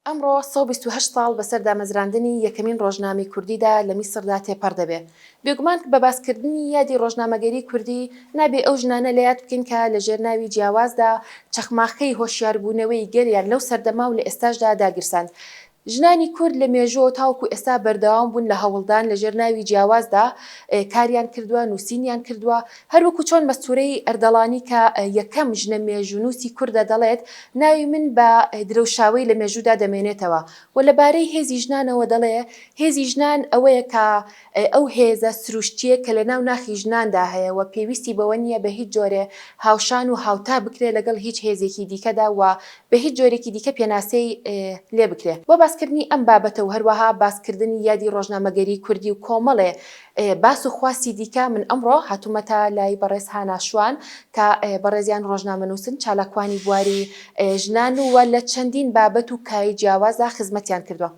ئەمڕۆ سەد و بیست و هەشت ساڵ بەسەر دامەزراندنی یەکەمین ڕۆژنامەی کوردیدا لە میسردا تێپەڕ دەبێ. بێگومان بە باسکردنی یادی ڕۆژنامەگەریی کوردی، نابێ ئەو ژنانە لە یاد بکەین کە لە ژێر ناوی جیاوازدا چەخماخەی هۆشیاربوونەوەی گەلیان لەو سەردەمە و لە ئێستاشدا داگیرساند. ژنانی کورد لە مێژووەوە تاوەکوو ئێستا بەردەوام بوون لە هەوڵدان لە ژێر ناوی جیاوازدا کاریان کردووە، نووسینیان کردووە، هەروەکو چۆن مەستورەی ئەردەڵانی کە یەکەم ژنە مێژوونووسی کوردە دەڵێت، ناوی من بە درەوشاوەی لە مێژوودا دەمێنێتەوە و لە بارەی هێزی ژنانەوە دەڵێ، هێزی ژنان ئەوەیە کە ئەو هێزە سروشتییە کە لەناو ناخی ژناندا هەیە و پێویستی بەوە نییە بە هیچ جۆرێ هاوشان و هاوتا بکرێ لەگەڵ هیچ هێزێکی دیکەدا و بە هیچ جۆرێکی دیکە پێناسەی لێ بکرێ. بۆ باسکردنی ئەم بابەتە و هەروەها باسکردنی یادی ڕۆژنامەگەریی کوردی و کۆمەڵێ ئێ باس و خواستی دیکە من ئەمڕۆ هاتوومەتە لای بەڕێز هانا شوان کە بەڕێزیان ڕۆژنامەنووسن چالاکوانی بواری ژنان و لە چەندین بابەت و کای جیاوازا خزمەتیان کردووە.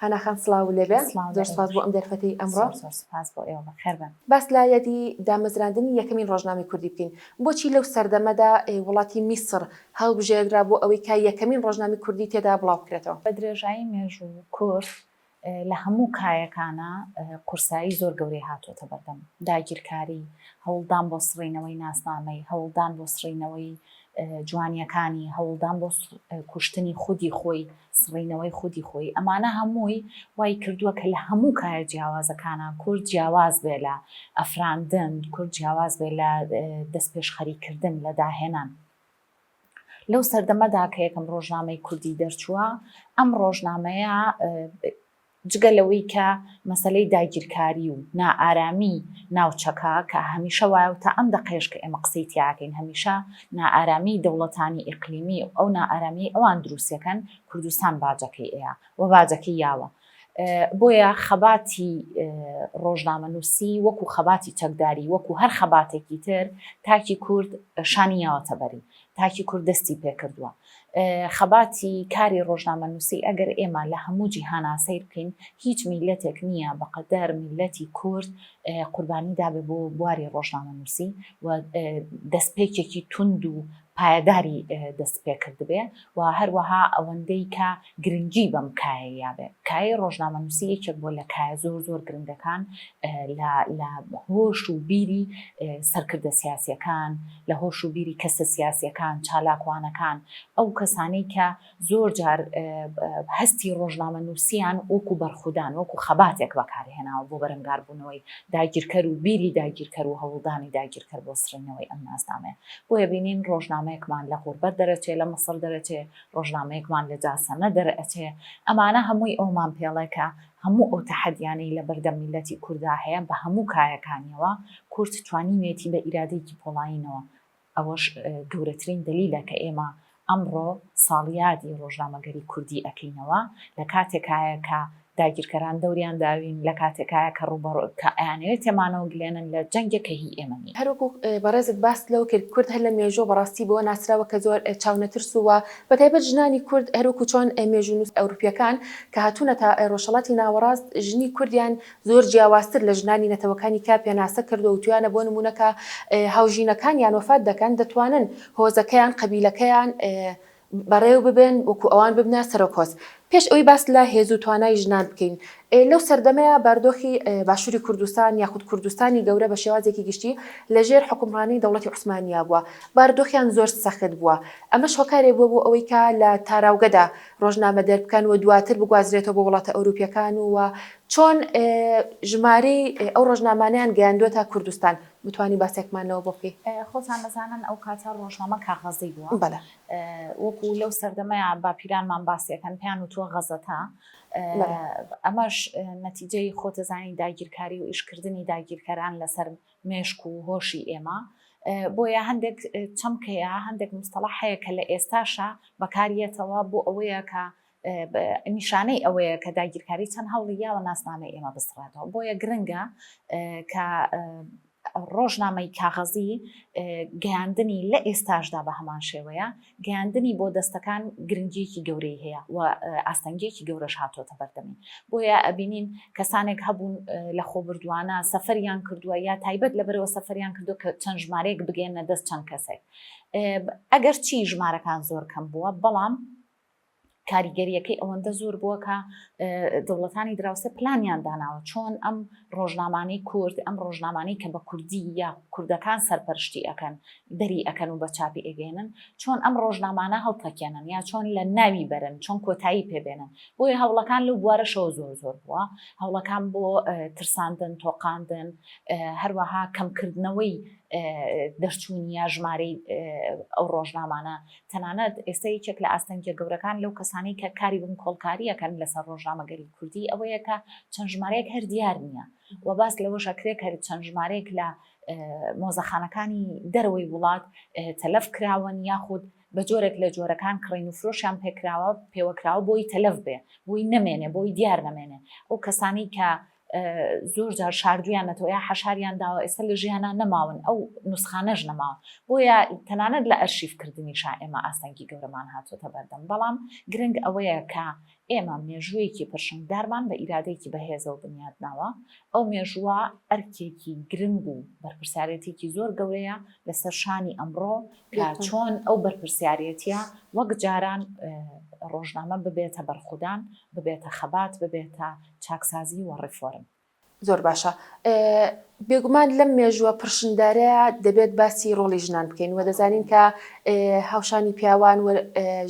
هانا خان سڵاوو لێ بێ. سڵاو لێ بێ. زۆر سوپاس بۆ ئەم دەرفەتەی ئەمڕۆ. زۆر زۆر سوپاس بۆ ئێوە. بەخێر بێن. باس لە یادی دامەزراندنی یەکەمین ڕۆژنامەی کوردی بکەین. بۆچی لەو سەردەمەدا وڵاتی میسڕ هەڵبژێردرا بۆ ئەوەی کە یەکەمین ڕۆژنامەی کوردی تێدا بڵاو بکرێتەوە؟ بە درێژایی مێژوو کورد لە هەموو کایەکانا قورسایی زۆر گەورەی هاتووەتە بەردەم، داگیرکاری، هەوڵدان بۆ سڕینەوەی ناسنامەی، هەوڵدان بۆ سڕینەوەی جوانییەکانی، هەوڵدان بۆ کوشتنی خودی خۆی، سڕینەوەی خودی خۆی، ئەمانە هەمووی وای کردووە کە لە هەموو کایە جیاوازەکانا کورد جیاواز بێ لە ئەفراندن، کورد جیاواز بێ لە دەستپێشخەریکردن، لە داهێنان. لەو سەردەمەدا کە یەکەم ڕۆژنامەی کوردی دەرچووە، ئەم ڕۆژنامەیە جگە لەوەی کە مەسەلەی داگیرکاری و نائارامی ناوچەکە کە هەمیشە وایە و تا ئەم دەقەیەش کە ئێمە قسەی تیاکەین هەمیشە نائارامی دەوڵەتانی ئیقلیمی و ئەو نائارامیی ئەوان دروستەکەن کوردستان باجەکەی ئەیا و باجەکەی یاوە بۆیە خەباتی ڕۆژنامەنووسی وەکو خەباتی چەکداری وەکو هەر خەباتێکی تر تاکی کورد شانی یاوەتە بەری تاکی کورد دەستی پێکردووە خەباتی کاری ڕۆژنامەنووسی ئەگەر ئێمە لە هەموو جیهانا سیر بکەین هیچ میلەتێک نییە بەقەدەر میلەتی کورد قوربانی دابێ بۆ بواری ڕۆژنامەنووسی و دەستپێکێکی تونند و پایەداری دەست پێکردبێ و هەروەها ئەوەندەی کە گرنگی بەم کایە یابێ کای ڕۆژنامەنووسی یەکێک بۆ لە کایە زۆر زۆر گرنگەکان لە هۆش و بیری سەرکردە سیاسەکان لە هۆش و بیری کەسە سیاسەکان چالاکوانەکان ئەو کەسانەی کە زۆر جار هەستی ڕۆژنامەنووسیان وەکو بەرخودان وەکو خەباتێک بەکارهێناوە بۆ بەرەنگاربوونەوەی داگیرکەر و بیری داگیرکەر و هەوڵدانی داگیرکەر بۆ سڕینەوەی ئەم ناسنامەیە بۆیە بینین ڕۆژنامەیەکمان لە غوربەت دەرەچێ لە مەسەر دەرەچێ ڕۆژنامەیەکمان لە جاسەنە دەرئەچێ ئەمانە هەمووی ئەومان پێڵێکە هەموو ئەو تەحەدیانەی لە بەردەم میلەتی کوردا هەیە بە هەموو کایەکانیەوە کورد توانیوێتی بە ئیرادەیەکی پۆڵایینەوە ئەوەش گەورەترین دەلیلە کە ئێمە ئەمڕۆ ساڵیادی ڕۆژنامەگەری کوردی ئەکەینەوە، لە کاتێکایە کە داگیرکەران دەوریان داوین، لە کاتێکایە کە ڕووبەڕو کە ئەیانەوێت تێمانەوە گلێنن لە جەنگێک کە هی ئێمە نییە. هەر وەکو بەڕێزت باست لەوە کرد کورد هەر لە مێژووە بەڕاستی بەوە ناسراوە کە زۆر چاونەترس و بە تایبەت ژنانی کورد هەر وەکو چۆن مێژوونووس ئەوروپییەکان کە هاتوونەتە ڕۆژهەڵاتی ناوەڕاست ژنی کوردیان زۆر جیاوازتر لە ژنانی نەتەوەکانی کە پێناسە کردووتویانە بۆ نموونە کە هاوژینەکانیان وەفات دەکەن دەتوانن هۆزەکەیان قەبیلەکەیان بەڕێو ببەن وەکو ئەوان ببنە سەرۆک هۆز پێش ئەوەی باس لە هێزو توانای ژنان بکەین لەو سەردەمەیا باردۆخی باشوری کوردستان یاخود کوردستانی گەورە بە شێوازێکی گشتی لە ژێر حوکمڕانی دەوڵەتی عوسمانیا بووە باردۆخیان زۆر سەخت بووە ئەمەش هۆکارێک بووە بۆ ئەوەی کە لە تاراوگەدا ڕۆژنامە دەربکەن و دواتر بگوازرێتەوە بۆ وڵاتە ئەوروپیەکان و چۆن ژمارەی ئەو ڕۆژنامانەیان گەیاندوە تا کوردستان بتوانی باسێکمان لەوە بۆ بکەی؟ خۆتان دەزانن ئەو کاتە ڕۆژنامە کاغەزی بووە بەلە وەکو لەو سەردەمەیە باپیرانمان باسیەکەن پێیان وتوە غەزەتە ئەمەش نەتیجەی خۆتەزانی داگیرکاری و ئیشکردنی داگیرکەران لەسەر مێشک و هۆشی ئێمە بۆیە هەندێک چەمکەیە هەندێک مستەڵەحەیە کە لە ئێستاشە بەکاریەتەوە بۆ ئەوەیە کە نیشانەی ئەوەیە کە داگیرکاری چەند هەوڵی یاوە ناسنامەی ئێمە بسڕێتەوە بۆیە گرنگە کە ڕۆژنامەی کاغەزی گەیاندنی لە ئێستاشدا بە هەمان شێوەیە گەیاندنی بۆ دەستەکان گرنگیەکی گەورەی هەیە و ئاستەنگیەکی گەورەش هاتۆتە بەردەمی بۆیە ئەبینین کەسانێک هەبوون لە خۆبردووانە سەفەریان کردووە یا تایبەت لە بەرەوە سەفەریان کردو کە چەند ژمارەیەک بگەێنە دەست چەند کەسێک ئەگەر چی ژمارەکان زۆر کەم بووە بەڵام کاریگەرییەکەی ئەوەندە زۆر بووە کە دەوڵەتانی دراوسێ پلانیان داناوە چۆن ئەم ڕۆژنامانەی کورد ئەم ڕۆژنامانەی کە بە کوردی یا کوردەکان سەرپەرشتی ئەەکەن دەری ئەەکەن و بە چاپی ئەگەێنن چۆن ئەم ڕۆژنامانە هەڵتەکێنن یا چۆن لە ناوی بەرن چۆن کۆتایی پێبێنن بۆیە هەوڵەکان لەو بوارەشەوە زۆر زۆر بووە هەوڵەکان بۆ ترساندن تۆقااندن هەروەها کەمکردنەوەی دەرچوونی یا ژمارەی ئەو ڕۆژنامانە تەنانەت ئێستا یەکێک لە ئاستەنگیە گەورەکان لەو کەسانەی کە کاری بنکۆڵکاری ئەکەن لەسەر ڕۆژنامەگەری کوردی ئەوەیە کە چەند ژمارەیەک هەر دیار نیە و باس لەوەش ئەکرێ کە چەند ژمارەیەک لە مۆزەخانەکانی دەرەوەی وڵات تەلەف کراوەن یاخود بە جۆرێک لە جۆرەکان کڕین و فرۆشیان پێکراوە پێوەکراوە بۆی تەلەف بێ بۆی نەمێنێ بۆی دیار نەمێنێ ئەو کەسانی کە زۆر جار شاردویانەتەوە یا حەشاریان داوە ئێستا لە ژیانان نەماون ئەو نوسخانەش نەماون بۆیە تەنانەت لە ئەرشیف کردنی شا ئێمە ئاستەنگی گەورەمان هاتوۆتە بەردەم بەڵام گرنگ ئەوەیە کە ئێمە مێژوویەکی پرشنگدارمان بە ئیرادێکی بەهێزەوە بنیاد ناوە ئەو مێژووە ئەرکێکی گرنگ و بەرپرسیارەتێکی زۆر گەورەیە لەسەر شانی ئەمڕۆ کە چۆن ئەو بەرپرسیارەتە وەک جاران ڕۆژنامە ببێتە بەرخودان ببێتە خەبات ببێتە چاکسازی و ڕێفۆرم. زۆر باشە. بێگومان لەم مێژووە پڕشنگدارەیا دەبێت باسی ڕۆڵی ژنان بکەین و دەزانین کە هاوشانی پیاوان و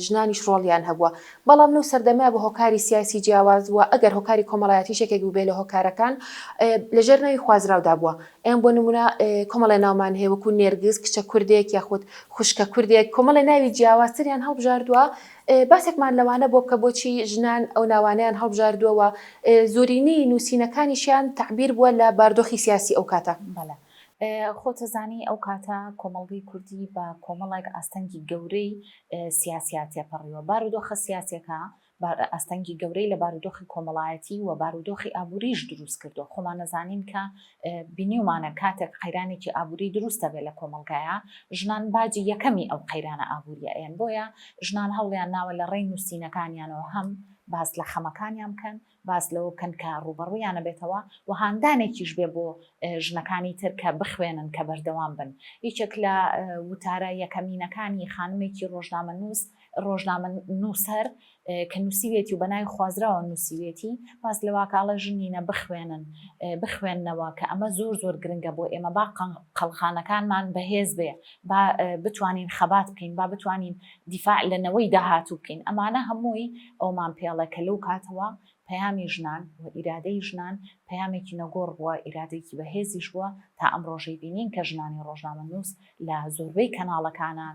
ژنانیش ڕۆڵیان هەبووە، بەڵام لەو سەردەمە بە هۆکاری سیاسی جیاواز و ئەگەر هۆکاری کۆمەڵایەتیش یەکێک بووبێ لە هۆکارەکان لەژێر ناوی خوازراودا بووە. ئێمە بۆ نموونە کۆمەڵێ ناومان هەیە وەکوو نێرگز کچە کوردێک یاخود خوشکە کوردێک کۆمەڵێ ناوی جیاوازتریان هەڵبژاردووە باسێکمان لەوانە بۆ بکە بۆچی ژنان ئەو ناوانەیان هەڵبژاردووە و زۆرینەی نووسینەکانیشیان تەعبیر بووە لە باردۆخی سیاسی ئەو کاتە؟ بەڵێ. خۆت ئەزانی ئەو کاتە کۆمەڵگەی کوردی بە کۆمەڵێک ئاستەنگی گەورەی سیاسییە تێپەڕیوە. بارودۆخە سیاسییەکە ئاستەنگی گەورەی لە بارودۆخی کۆمەڵایەتی و بارودۆخی ئابوورییش دروست کردووە. خۆمان ئەزانین کە بینیومانە کاتێک قەیرانێکی ئابوری دروست دەبێت لە کۆمەڵگایا ژنان باجی یەکەمی ئەو قەیرانە ئابوریە ئەیەن بۆیە ژنان هەوڵیان ناوە لە ڕێی نووسینەکانیانەوە هەم باس لە خەمەکانیان بکەن باس لەوە بکەن کە ڕوبەڕویانە بێتەوە و هاندانێکیش بێ بۆ ژنەکانی تر کە بخوێنن کە بەردەوام بن یەکێک لە وتارە یەکەمینەکانی خانمێکی ڕۆژنامە نووس ڕۆژنامە نووسەر کە نووسیوێتی و بە ناوی خوازراوە نووسیوێتی، باس لەوەکە ئەڵێ ژنینە بخوێنن، بخوێننەوە کە ئەمە زۆر زۆر گرنگە بۆ ئێمە، با قەڵخانەکانمان بەهێز بێ، با بتوانین خەبات بکەین، با بتوانین دیفاع لە نەوەی داهاتوو بکەین. ئەمانە هەمووی ئەوەمان پێڵێ کە لەو کاتەوە پەیامی ژنان و ئیرادەی ژنان پەیامێکی نەگۆڕ بووە، ئیرادەیەکی بەهێزیش بووە تا ئەمڕۆژەی بینین کە ژنانی ڕۆژنامەنووس لە زۆربەی کەناڵەکانە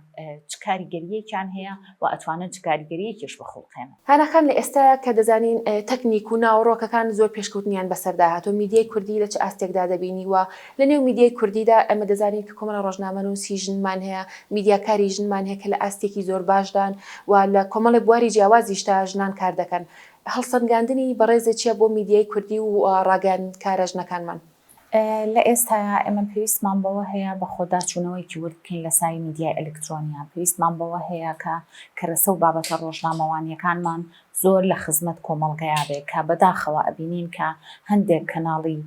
چ کاریگەریەکیان هەیە و ئەتوانن چ کاریگەریەکیش بخوڵقێنن. هەناخان لە ئێستایە کە دەزانین تەکنیک و ناوەڕۆکەکان زۆر پێشکەوتنیان بەسەردا هاتووە میدیای کوردی لە چ ئاستێکدا دەبینی و لە نێو میدیای کوردیدا ئێمە دەزانین کە کۆمەڵە ڕۆژنامەنووسی ژنمان هەیە میدیاکاری ژنمان هەیە کە لە ئاستێکی زۆر باشدان و لە کۆمەڵێک بواری جیاوازیشدا ژنان کار دەکەن هەڵسەنگاندنی بەڕێزت چیە بۆ میدیای کوردی و ڕاگەیاندنکارە ژنەکانمان؟ لە ئێستایا ئێمە پێویستمان بەوە هەیە بەخۆداچوونەوەیەکی ورد بکەین لە سای میدیای ئەلکترۆنیا، پێویستمان بەوە هەیە کە کەرەسە و بابەتە ڕۆژنامەوانییەکانمان زۆر لە خزمەت کۆمەڵگەیا بێ، کە بەداخەوە ئەبینین کە هەندێک کەناڵی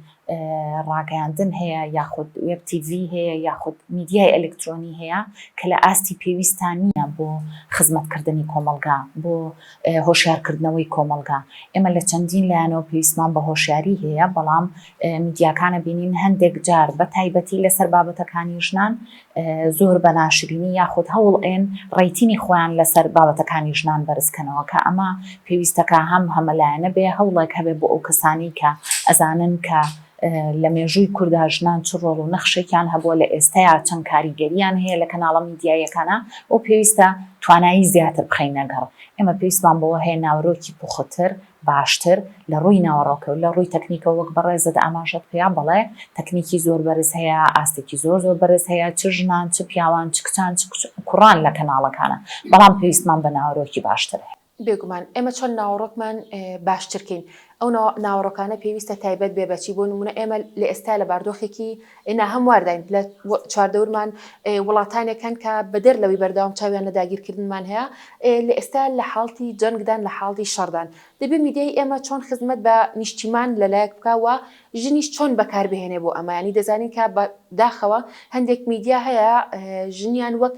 ڕاگەیاندن هەیە یاخود وێب تی ڤی هەیە یاخود میدیای ئەلکترۆنی هەیە کە لە ئاستی پێویستان نییە بۆ خزمەتکردنی کۆمەڵگا، بۆ هۆشیارکردنەوەی کۆمەڵگا، ئێمە لە چەندین لایەنەوە پێویستمان بە هۆشیاری هەیە، بەڵام میدیاکان ئەبینین هەندێک جار بە تایبەتی لەسەر بابەتەکانی ژنان زۆر بە ناشرینی یاخود هەوڵ ئەیەن ڕەیتینی خۆیان لەسەر بابەتەکانی ژنان بەرز کەنەوە کە ئەمە پێویستەکە هەم هەمەلایەنە بێ هەوڵێک هەبێ بۆ ئەو کەسانەی کە ئەزانن کە لە مێژووی کوردا ژنان چ ڕۆڵ و نەخشێکیان هەبووە، لە ئێستەیا چەند کاریگەرییان هەیە لە کەناڵە میدیاییەکانا و پێویستە توانایی زیاتر بخەینە گەڕ. ئێمە پێویستمان بەوە هەیە ناوەرۆکی پوختر، باشتر، لە ڕووی ناوەڕۆکەوە، لە ڕووی تەکنیکەوە وەک بەڕێزت ئاماژەت پێیا بەڵێ تەکنیکی زۆر بەرز هەیە، ئاستێکی زۆر زۆر بەرز هەیە، چ ژنان، چ پیاوان، چ کچان، چ کوڕان لە کەناڵەکانا، بەڵام پێویستمان بە ناوەرۆکی باشتر هەیە. بێگومان ئێمە چەند ناوەڕۆکمان باشتر کەین ئەو ناوەڕۆکانە پێویستە تایبەت بێ بەچی بۆ نمونە ئێمە لە ئێستا لە باردۆخێکی ناهەموارداین لە چواردەورمان وڵاتانێک هەن کە بەدەر لەوەی بەرداوام چاویان لە داگیرکردنمان هەیە لە ئێستا لە حاڵتی جەنگدان لە حاڵی شەڕدان دەبێ میدیای ئێمە چۆن خزمەت بە نیشتیمان لەلایەک بکە و ژنیش چۆن بەکار بهێنێ بۆ ئەمە یانی دەزانین کە بە داخەوە هەندێک میدیا هەیە ژنیان وەک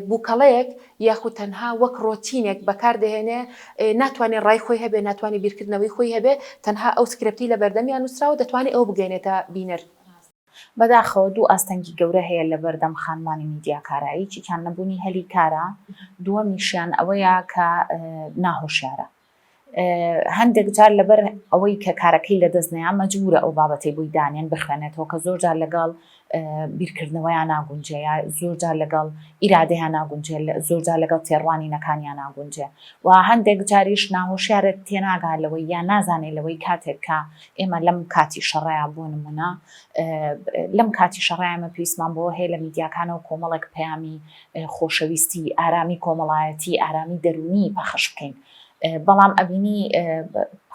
بوکەڵەیەک یاخود تەنها وەک ڕۆتینێک بەکار دەهێنێ ناتوانێ ڕای خۆی هەبێ ناتوانێ بیرکردنەوەی خۆی هەبێ تەنها ئەو سکرپتی لە بەردەمیان نوسراوە دەتوانێ ئەوە بگەینێتە بینەر. بەداخەوە دوو ئاستەنگی گەورە هەیە لە بەردەم خانمانی میدیاکارە یەکێکیان نەبونی هەلی کارە دوەمیشیان ئەوەیە کە ناهۆشیارە هەندێک جار لەبەر ئەوەی کە کارەکەی لەدەست نەیان مەجبورە ئەو بابەتەی بۆی دانێن بخوێنێتەوە کە زۆر جار لەگەڵ بیرکردنەوەیان ناگونجێ یا زۆر جار لەگەڵ ئیرادەیان ناگونجێ زۆر جار لەگەڵ تێڕوانینەکانیان ناگونجێ و هەندێک جاریش ناهۆشیارە تێناگا لەوەی یان نازانێت لەوەی کاتێک کە ئێمە لەم کاتی شەڕەیە بۆ نمونە لەم کاتی شەڕایمە پێیسمان بۆ هەیە لە میدیاکانەوە کۆمەڵێک پەیامی خۆشەویستی، ئارامی کۆمەڵایەتی، ئارامی دەروونی پەخش بکەین. بەڵام ئەبینی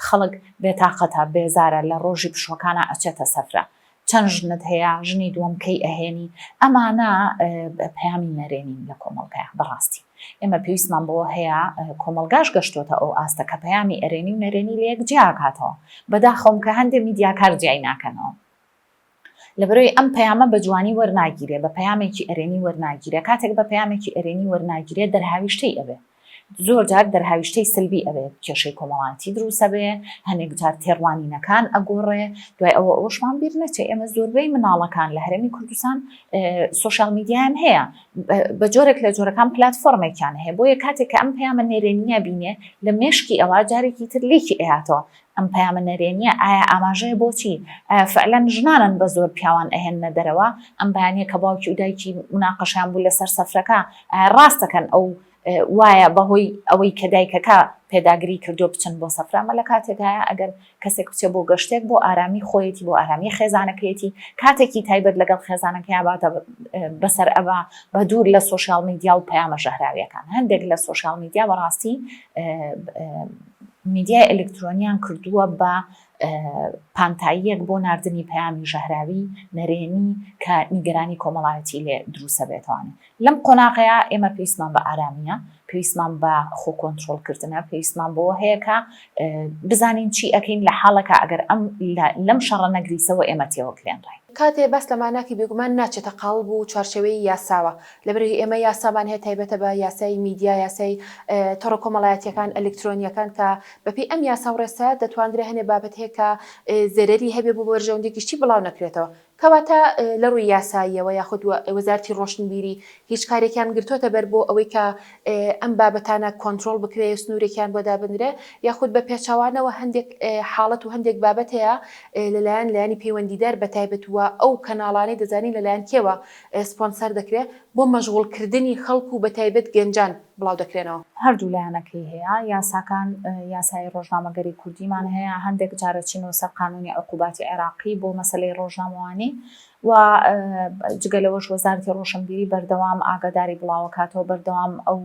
خەڵک بێتاقەتە، بێزارە، لە ڕۆژی پشووەکانا ئەچێتە سەفرە. چەند ژنت هەیە، ژنی دووەم کەی ئەهێنی؟ ئەمانە پەیامی نەرێنین لە کۆمەڵگایا بەڕاستی. ئێمە پێویستمان بەوە هەیە، کۆمەڵگاش گەشتۆتە ئەو ئاستە کە پەیامی ئەرێنی و نەرێنی لەیەک جیاکاتەوە. بەداخەوەم کە هەندێ میدیاکار جیای ناکەنەوە. لەبەرەوەی ئەم پەیامە بە جوانی وەرناگیرێ، بە پەیامێکی ئەرێنی وەرناگیرێ، کاتێک بە پەیامێکی ئەرێنی وەرناگیرێ دەرهاویشتەی ئەبێ، زۆر جار دەرهاویشتەی سەلبی ئەبێ، کێشەی کۆمەڵایەتی دروست ئەبێ، هەنێک جار تێڕوانینەکان ئەگۆڕێ، دوای ئەوە ئەوەشمان بیر نەچێ ئێمە زۆربەی مناڵەکان لە هەرێمی کوردستان سۆشیال میدیایان هەیە، بە جۆرێک لە جۆرەکان پلاتفۆرمێکیان هەیە، بۆیە کاتێک کە ئەم پەیامە نەرێنییە بینێ لە مێشکی ئەوا جارێکی تر لێکی ئەیاتەوە، ئەم پەیامە نەرێنیە ئایا ئاماژەیە بۆ چی؟ ئایا فعلا ژنانن بە زۆر پیاوان ئەهێننە دەرەوە؟ ئەم بەیانیە کە باوکی و دایکی مناقەشەیان بوو لەسەر سەفرەکە ئایا ڕاست دەکەن ئەو وایە بەهۆی ئەوەی کە دایکەکە پێداگری کردوە بچن بۆ سەفرە ئەمە لە کاتێکدایە ئەگەر کەسێک بچێ بۆ گەشتێک بۆ ئارامی خۆیەتی بۆ ئارامی خێزانەکەیەتی کاتێکی تایبەت لەگەڵ خێزانەکەیا باتە بەسەر ئەبا بە دوور لە سۆشیال میدیا و پەیامە ژەهراویەکان هەندێک لە سۆشیال میدیا بەڕاستی میدیای ئەلکترۆنیان کردووە بە پانتاییەک بۆ ناردنی پەیامی ژەهراوی نەرێنی کە نیگەرانی کۆمەڵایەتی لێ دروستەبێتەوانێ لەم قۆناغەیا ئێمە پێویستمان بە ئارامیە پێویستمان بە خۆ کۆنترۆڵ کردنە پێویستمان بۆ هەیە کە بزانین چی ئەکەین لە حاڵەکە ئەگەر ئەم لەم شەڕە نەگریسەوە ئێمە تێوەکلێنڕین. کاتێ باس لە ماناکی بێگومان ناچێتە قاڵب و چوارچێوەی یاساوە لەبەرئەوەی ئێمە یاسامان هەیە تایبەتە بە یاسای میدیا، یاسای تۆڕە کۆمەڵایەتییەکان، ئەلیکترۆنییەکان کە بەپێی ئەم یاسا و ڕێسایە دەتواندرێ هەنێ بابەت هەیە کە زەرەری هەبێ بۆ بەرژەوەندی گشتی بڵاو نەکرێتەوە. کەواتە لە ڕووی یاساییەوە یاخود وەزارەتی ڕۆشنبیری هیچ کارێکیان گرتۆتە بەر بۆ ئەوەی کە ئەم بابەتانە کۆنترۆڵ بکرێ و سنوورێکیان بۆ دابنرێ یاخود بە پێچەوانەوە هەندێک حاڵەت و هەندێک بابەت هەیە لەلایەن لایەنی پەیوەندیدار بەتایبەت و ئەو کەناڵانەی دەزانین لەلایەن کێوە ئێسپۆنسەر دەکرێ بۆ مەشغوڵ کردنی خەڵک و بەتایبەت گەنجان بڵاو دەکرێنەوە. هەردوو لایەنەکەی هەیە، یاساکان یاسای ڕۆژنامەگەری کوردیمان هەیە، هەندێک جارە چینەوە سەر قانوونی عقوباتی عێراقی بۆ مەسەلەی ڕۆژنامەوانی و جگە لەوەش وەزارەتی ڕۆشنبیری بەردەوام ئاگاداری بڵاوەکاتەوە بەردەوام ئەو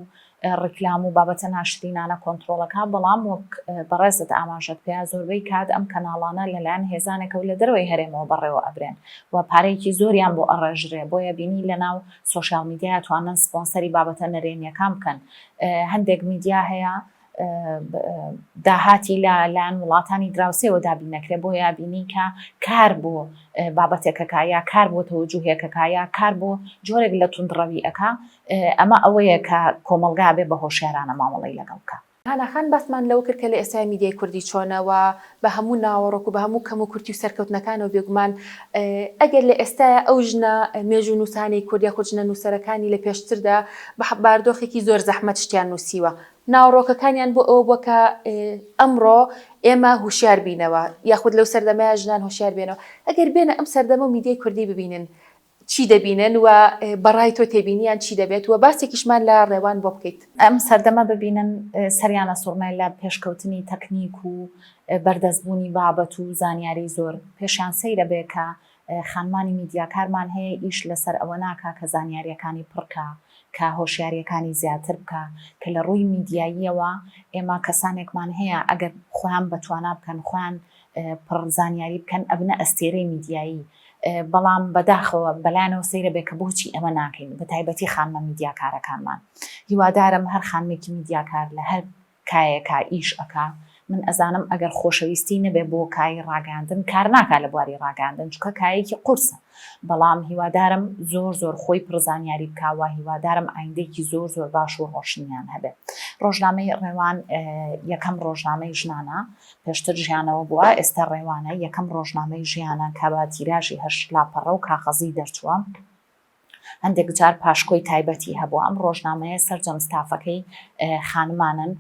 ڕیکلام و بابەتە ناشرینانە کۆنترۆڵەکە، بەڵام وەک بەڕێزت ئاماژەت پێا زۆربەی کات ئەم کەناڵانە لەلایەن هێزانێکەوە لە دەرەوەی هەرێمەوە بەڕێوە ئەبرێن و پارەیەکی زۆریان بۆ ئەڕێژرێ بۆیە بینی لەناو سۆشیال میدیا ئەتوانن سپۆنسەری بابەتە نەرێنیەکان بکەن هەندێک میدیا هەیە داهاتی لە لایەن وڵاتانی دراوسێەوە دابین نەکرێ بۆ یابینی کە کار بۆ بابەتێکەکە یا کار بۆ تەوەجوهێکەکە یا کار بۆ جۆرێک لە توندڕەوی ئەک ئەمە ئەوەیە کە کۆمەڵگا ئەبێ بە هۆشیارانە مامەڵەی لەگەڵ بکا. هانا خان باسمان لەوە کرد کە لە ئێستای میدیای کوردی چۆنە و بە هەموو ناوەڕۆک و بە هەموو کەم و کورتی و سەرکەوتنەکانەوە بێگومان ئەگەر لە ئێستایا ئەو ژنە مێژوونووسانەی کورد یاخود ژنە نووسەرەکانی لە پێشتردا بە باردۆخێکی زۆر زەحمەت شتیان نووسیوە ناوەڕۆکەکانیان بۆ ئەوە بووە کە ئەمڕۆ ئێمە هوشیار بینەوە یاخود لەو سەردەمەیە ژنان هوشیار بێنەوە ئەگەر بێنە ئەم سەردەمە و میدیای کوردی ببینن چی دەبینن و بە ڕای تۆ تێبینیان چی دەبێت و باسێکیشمان لە ڕێوان بۆ بکەیت. ئەم سەردەمە ببینن سەریان ئەسوڕمێ لە پێشکەوتنی تەکنیک و بەردەست بوونی بابەت و زانیاری زۆر پێشیان سەیرە بێ کە خانمانی میدیاکارمان هەیە ئیش لەسەر ئەوە ناکا کە زانیاریەکانی پڕ کا کە هۆشیاریەکانی زیاتر بکا کە لە ڕووی میدیاییەوە ئێمە کەسانێکمان هەیە ئەگەر خۆیان بە توانا بکەن خۆیان پڕ زانیاری بکەن ئەبنە ئەستێرەی میدیایی بەڵام بەداخەوە بەلایانەوە سەیرە بێ کە بۆچی ئەمە ناکەین بە تایبەتی خانمە میدیاکارەکانمان هیوادارم هەر خانمێکی میدیاکار لە هەر کایەکە ئیش ئەکا من ئەزانم ئەگەر خۆشەویستی نەبێ بۆ کای ڕاگەاندن کار ناکا لە بواری ڕاگەاندن چکە کایەکی قورسە بەڵام هیوادارم زۆر زۆر خۆی پرزانیاری بکوە هیوادارم ئایندێکی زۆر زۆر باش و ڕۆشنیان هەبێت ڕۆژنامەی ڕێوان یەکەم ڕۆژنامەی ژنانە پێشتر ژیانەوە بووە، ئێستا ڕێوانە، یەکەم ڕۆژنامەی ژیانە کە بە تیراژی هەشت لاپەڕە و کاغەزی دەرچووە. هەندێک جار پاشکۆی تایبەتی هەبووە. ئەم ڕۆژنامەیە سەرجەم ستافەکەی خانمانن،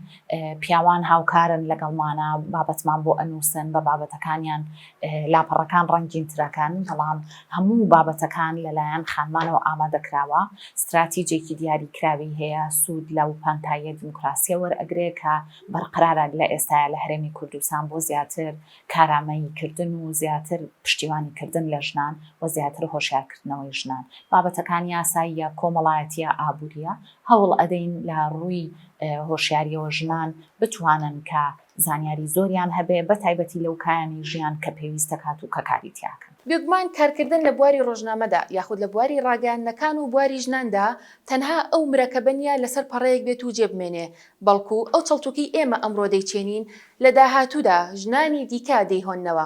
پیاوان هاوکارن لەگەڵمانە، بابەتمان بۆ ئەنووسن، بە بابەتەکانیان لاپەڕەکان ڕەنگینترەکەن، بەڵام هەموو بابەتەکان لەلایەن خانمانەوە ئامادە کراوە. ستراتیجێکی دیاریکراوی هەیە، سوود لەو پانتاییە دیموکراسییە وەرئەگرێ کە بەرقەرارە لە ئێستایا لە هەرێمی کوردستان بۆ زیاتر کارامەیی کردن و زیاتر پشتیوانی کردن لە ژنان و زیاتر هۆشیار کردنەوەی ژنان بابەتەکان یاساییە کۆمەڵایەتیە ئابوریە هەوڵ ئەدەین لە ڕووی هۆشیاریەوە ژنان بتوانن کە زانیاری زۆریان هەبێ بە تایبەتی لەو کایانی ژیان کە پێویست دەکات و کە کاری تیاکەن. بێگومان کارکردن لە بواری ڕۆژنامەدا یاخود لە بواری ڕاگەیاندنەکان و بواری ژناندا تەنها ئەو مرەکەبە نییە لەسەر پەڕەیەک بێت و جێ بمێنێ، بەڵکو ئەو چەڵتوکەی ئێمە ئەمڕۆ دەیچێنین لە داهاتوودا ژنانی دیکە دەیهۆننەوە.